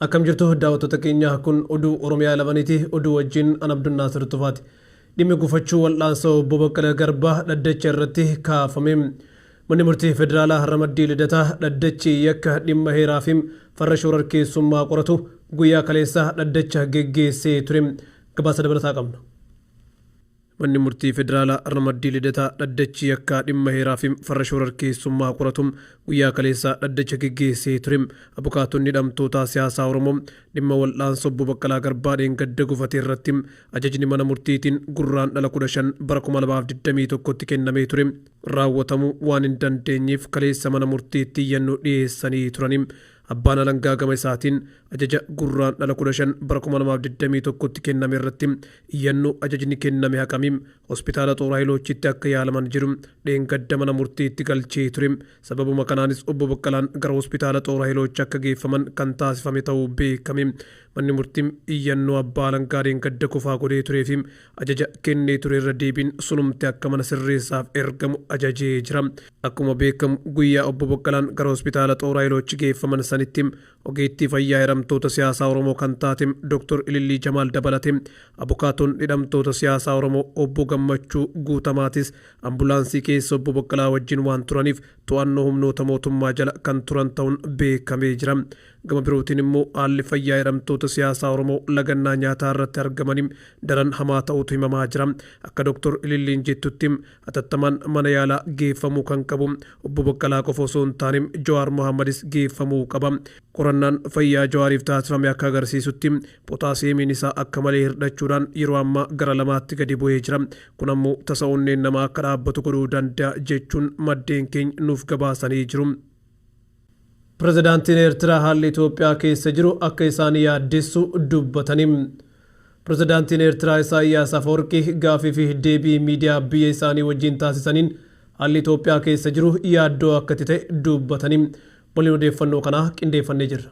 Akkam jirtu daawwattoota keenya kun oduu Oromiyaa labaniiti oduu wajjin an Abdunnaasir Tufaati. Dhimmi gufachuu wal'aansa obbo Baqqala Garbaa dhaddacha irratti kaafame. Manni murtii federaalaa ramaddii lidataa dhaddachi yakka dhimma heeraa fi farra shoorarkeessummaa qoratu guyyaa kaleessaa dhaddacha geggeessee ture. Gabaasa dabalataa qabna. Manni Murtii Federaalaa Ramaddii Lidataa dhaddachi yakkaa dhimma heeraa fi farra shoorarkeessummaa qoratu guyyaa kaleessaa dhaddacha geggeessee ture. Abukaatonni hidhamtootaa siyaasaa Oromoo dhimma wal'aansa Obbo Baqqalaa Garbaa dheengadda gufate irratti ajajni mana murtiitiin Gurraandhala 15 bara 2021tti kennamee ture raawwatamuu waan hin dandeenyeef kaleessa mana murtiitti iyyannoo dhiyeessanii turani. Abbaan Alangaa gama isaatiin ajaja Gurraandhala 15 bara 2021tti kenname irratti iyyannoo ajajni kenname haqami Hospitaala Xoor Hayiloochitti akka yaalaman jedhu dheengadda mana murtiitti galchee ture. Sababuma kanaanis Obbo Baqqalaan gara Hospitaala Xoor Hayiloochi akka geeffaman kan taasifame ta'uu beekame. Manni murtii iyyannoo Abbaa Alangaa dheengadda kufaa godhee tureefi ajaja kennee ture irra deebiin sunumti akka mana sirreessaaf ergamu ajajee jira. Akkuma beekamu guyyaa obbo Boqqalaan gara hospitaala Xooraa Iloochi geeffaman sanitti ogeettii fayyaa hidhamtoota siyaasaa Oromoo kan taate Dr. Ilillii Jamaal dabalate abukaatoon hidhamtoota siyaasaa Oromoo obbo Gammachuu Guutamaatis ambulaansii keessa obbo Boqqalaa wajjin waan turaniif to'annoo humnoota mootummaa jala kan turan ta'uun beekamee jira. Gama birootiin immoo haalli fayyaa hidhamtoota siyaasaa Oromoo lagannaa nyaataa irratti argamanii daran hamaa ta'uutu himamaa jira. Akka Doktor Ililliin jettutti hatattamaan mana yaalaa geeffamuu kan qabu Obbo Baqqalaa qofa osoo hin taane Jawaar Mohaammadis geeffamuu qaba. Qorannaan fayyaa Jawaariif taasifame akka agarsiisutti potaasiyeemiin isaa akka malee hirdhachuudhaan yeroo ammaa gara lamaatti gadi bu'ee jira. Kun ammoo tasa onneen namaa akka dhaabbatu godhuu danda'a jechuun maddeen keenya nuuf gabaasanii jiru. Pirezidaantiin Eertiraa haalli Itoophiyaa keessa jiru akka isaan yaaddessu dubbatani. Pirezidaantiin Eertiraa Isaayyaas Afawarqii gaafii fi deebii miidiyaa biyya isaanii wajjin taasisaniin haalli Itoophiyaa keessa jiru yaaddoo akka itti ta'e dubbatani. Waliin odeeffannoo kanaa qindeeffannee jirra.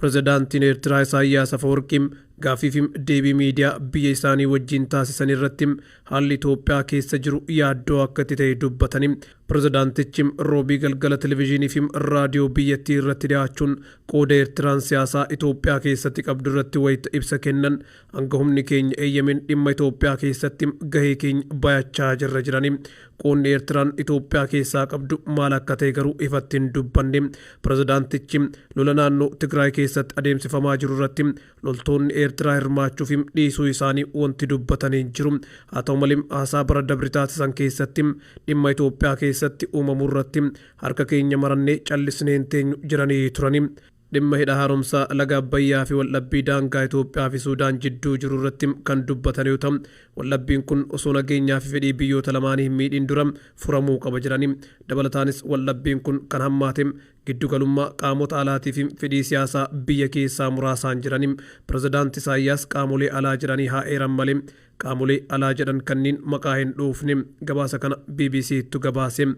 Pirezidaantiin Eertiraa Isaayyaas Afawarqii gaaffii fi deebii miidiyaa biyya isaanii wajjin taasisan irratti haalli Itoophiyaa keessa jiru yaaddoo akka itti ta'e dubbatanii, pirezidaantichi Roobii galgala televizhiinii fi raadiyoo biyyattii irratti dhiyaachuun qooda Eertiraan siyaasaa Itoophiyaa keessatti qabdu irratti wayita ibsa kennan Hanga humni keenya eeyyameen dhimma Itoophiyaa keessatti gahee keenya bayachaa jirra jedhanii, qoodni Eertiraan Itoophiyaa keessaa qabdu maal akka ta'e garuu ifatti hin dubbanne. Pirezidaantichi, lola naannoo Tigraay keessatti adeemsifamaa jiru irratti loltoonni Eertiraa hirmaachuu fi dhiisuu isaanii wanti dubbatan hin jiru. Haa ta'u malee, haasaa bara dabre taasisan keessatti dhimma Itoophiyaa keessatti uumamu irratti harka keenya marannee callisnee hin teenyu jedhanii turani. Dhimma Hidha Haaromsaa Laga Abbayyaa fi waldhabbii daangaa Itoophiyaa fi Suudaan jidduu jiru irratti kan dubbatan yoo ta'u, waldhabbiin kun osoo nageenyaa fi fedhii biyyoota lamaanii hin miidhiin dura furamuu qaba jedhani. Dabalataanis waldhabbiin kun kan hammaate giddu galummaa qaamota alaatii fi fedhii siyaasaa biyya keessaa muraasaan jedhani. Pirezidaant Isaayyaas qaamolee alaa jedhanii haa eeran malee qaamolee alaa jedhan kanniin maqaa hin dhuufne. Gabaasa kana BBC'ttu gabaase.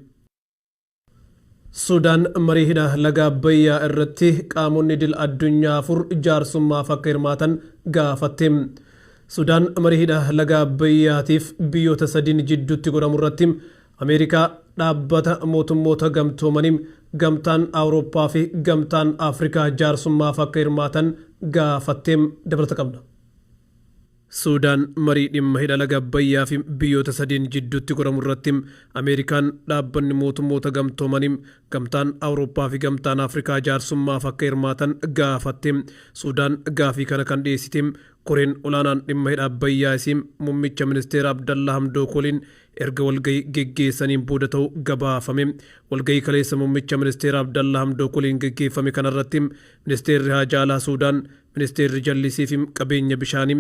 Sudaan marii hidha laga Abbayyaa irratti qaamonni idil addunyaa afur jaarsummaaf akka hirmaatan gaafatte. Sudaan marii hidha laga Abbayyaatiif biyyoota sadiin jidduutti godhamu irratti Ameerikaa, Dhaabbata Mootummoota Gamtoomanii, Gamtaan Awurooppaa fi Gamtaan Afrikaa jaarsummaaf akka hirmaatan gaafatte. Dabalata qabna. Suudaan marii dhimma hidha laga Abbayyaa fi biyyoota sadiin jidduutti godhamu irratti Ameerikaan, Dhaabbanni Mootummoota Gamtoomanii, Gamtaan Awurooppaa fi Gamtaan Afrikaa jaarsummaaf akka hirmaatan gaafatte. Suudaan gaafii kana kan dhiyeessite Koreen Olaanaan Dhimma Hidha Abbayyaa isii Mummicha Ministeera Abdallaa Hamdook waliin erga walgahii geggeessaniin booda ta'uu gabaafame. Walgahii kaleessa Mummicha Ministeera Abdallaa Hamdook waliin geggeeffame kanarratti Ministeerri Haajaa Alaa Suudaan Ministeerri Jallisii fi Qabeenya Bishaanii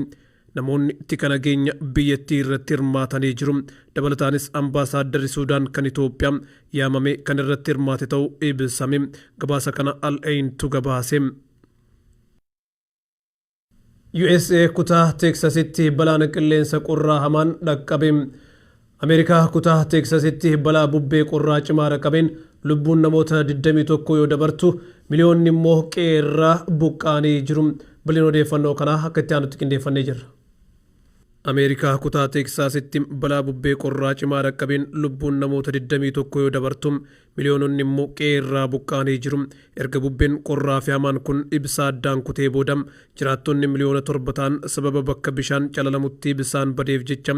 namoonni tika nageenya biyyattii irratti hirmaatanii jiru. Dabalataanis Ambaasaaddarri Suudaan kan Itoophiyaa yaamamee kan irratti hirmaate ta'uu ibsame. Gabaasa kana Al Ain tu gabaase. USA kutaa Teeksasitti balaan qilleensa qorraa hamaan dhaqqabe. Ameerikaa kutaa Teeksasitti balaa bubbee qorraa cimaa dhaqqabeen lubbuun namoota 21 yoo dabartu, miliyoonni immoo qe'ee irraa buqqa'anii jiru. Bal'ina odeeffannoo kanaa akka itti aanutti qindeeffannee jirra. Ameerikaa kutaa Teeksaasitti balaa bubbee qorraa cimaa dhaqqabeen lubbuun namoota 21 yoo dabartu, miliyoononni immoo qe'ee irraa buqqa'anii jiru. Erga bubbeen qorraa fi hamaan kun ibsaa addaan kutee booda, jiraattonni miliyoona 7 ta'an sababa bakka bishaan calalamutti ibsaan badeef jecha,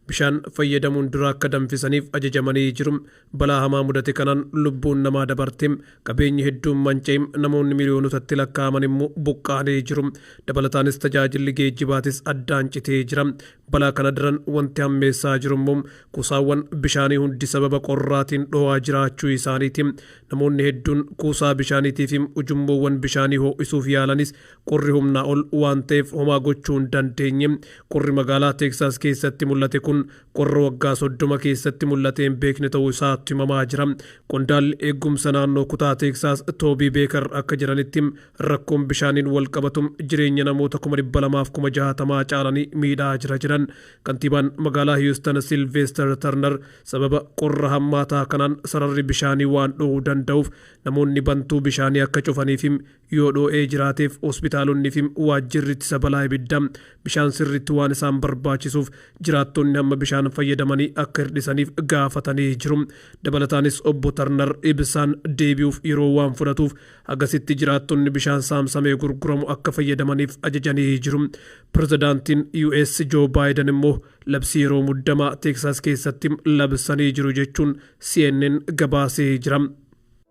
Bishaan fayyadamuun dura akka danfisaniif ajajamanii jiru. Balaa hamaa mudate kanaan lubbuun namaa dabarte, qabeenyi hedduun manca'e, namoonni miliyoonotatti lakkaa'aman immoo buqqa'anii jiru. Dabalataanis tajaajilli geejjibaatis addaan citee jira. Balaa kana daran wanti hammeessaa jiru immoo kuusaawwan bishaanii hundi sababa qorraatiin dho'aa jiraachuu isaaniiti. Namoonni hedduun kuusaa bishaaniitiifi ujummoowwan bishaanii ho'isuuf yaalanis Qorri humnaa ol waan ta'eef homaa gochuu hin dandeenye. Qorri magaalaa Teeksaas keessatti mul'ate kun qorra waggaa 30 keessatti mul'atee hin beekne ta'uu isaatu himamaa jira. Qondaalli eegumsa naannoo kutaa Teeksaas Toobii Beekar akka jedhanitti rakkoon bishaaniin wal qabatu jireenya namoota 200,000f 60,000 caalanii miidhaa jira jedhan. Kantiibaan magaalaa Hiyuustan Silveester Tarnar sababa qorra hammaataa kanaan sararri bishaanii waan dhohuu danda'uuf namoonni bantuu bishaanii akka cufaniifi Yoo dhoo'ee jiraateef hospitaalonni fi waajjirri ittisa balaa ibiddaa bishaan sirriitti waan isaan barbaachisuuf jiraattonni hamma bishaan fayyadamanii akka hirdhisaniif gaafatanii jiru. Dabalataanis Obbo Tarnar ibsaan deebi'uuf yeroo waan fudhatuuf hagasitti jiraattonni bishaan saamsamee gurguramu akka fayyadamaniif ajajanii jiru. Pirezidaantiin US Joo Baayidan immoo labsii yeroo muddamaa Teeksaas keessatti labsanii jiru jechuun CNN gabaasee jira.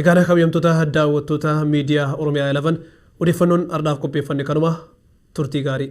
Egaan kabajamtoota daawwattoota miidiyaa Oromiyaa 11 odeeffannoon ardhaaf qopheeffanne kanuma turtii gaarii.